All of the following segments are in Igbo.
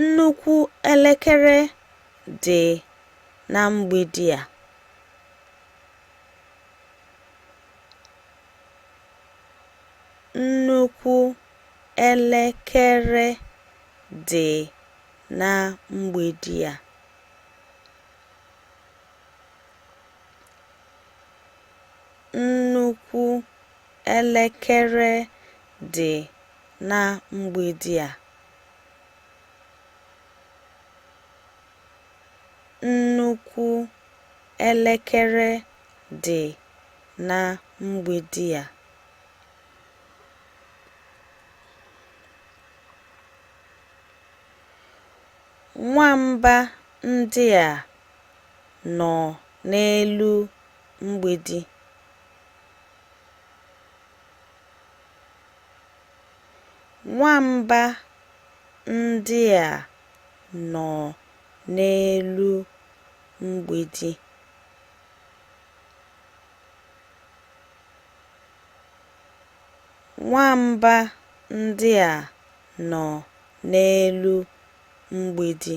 Nnukwu elekere dị na mgbidi a. Nnukwu elekere dị na mgbidi a. Nnukwu Elekere dị na mgbidi a. Nnukwu elekere dị na mgbidi a. Nwamba ndị a nọ n'elu mgbidi. Nwamba ndị a nọ n'elu mgbidi. Nwamba ndị a nọ n'elu mgbidi.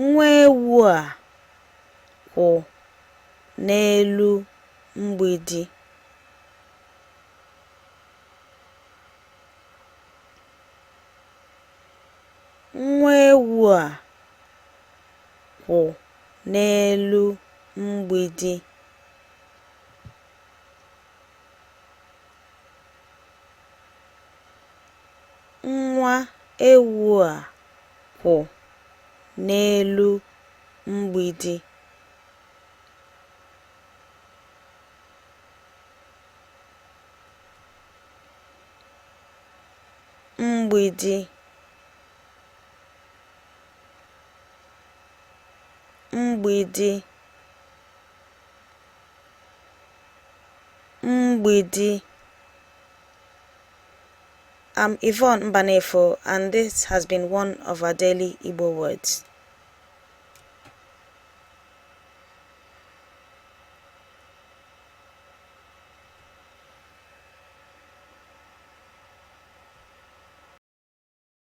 Nwa ewu a kwụ n'elu mgbidi. Nwa ewu a kwụ n'elu mgbidi. Nwa ewu a kwụ n'elu mgbidi. mgbidi mgbidi mgbidi I'm um, Yvonne Mbanefo and this has been one of our daily Igbo words.